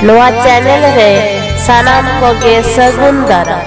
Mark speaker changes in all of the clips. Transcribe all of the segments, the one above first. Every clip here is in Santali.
Speaker 1: ᱱᱚᱣᱟ ᱪᱮᱱᱮᱞ ᱨᱮ ᱥᱟᱱᱟᱢ ᱠᱚᱜᱮ ᱥᱟᱹᱜᱩᱱ ᱫᱟᱨᱟᱢ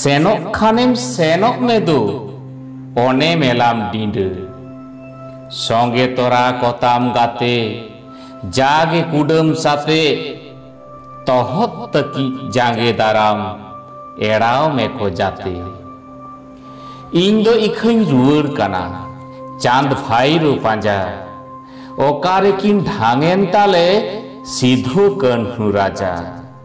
Speaker 2: ᱥᱮᱱᱚᱜ ᱠᱷᱟᱱᱮᱢ ᱥᱮᱱᱚᱜ ᱢᱮ ᱫᱩ ᱚᱱᱮ ᱢᱮᱞᱟᱢ ᱰᱤᱸᱰᱟᱹ ᱥᱚᱸᱜᱮ ᱛᱚᱨᱟ ᱠᱚᱛᱟᱢ ᱜᱟᱛᱮ ᱡᱟᱜᱮ ᱠᱩᱰᱟᱹᱢ ᱥᱟᱛᱮ ᱛᱚᱦᱚᱫ ᱛᱟᱹᱠᱤᱡ ᱡᱟᱸᱜᱮ ᱫᱟᱨᱟᱢ ᱮᱲᱟᱣ ᱢᱮᱠᱚ ᱡᱟᱛᱮ ᱤᱧ ᱫᱚ ᱤᱠᱷᱟᱹᱧ ᱨᱩᱣᱟᱹᱲ ᱠᱟᱱᱟ ᱪᱟᱸᱫᱽ ᱵᱷᱟᱭᱨᱳ ᱯᱟᱸᱡᱟ ᱚᱠᱟᱨᱮᱠᱤᱱ ᱰᱷᱟᱝᱮᱱ ᱛᱟᱞᱮ ᱥᱤᱫᱷᱩ ᱠᱟᱹᱱᱦᱩ ᱨᱟᱡᱟ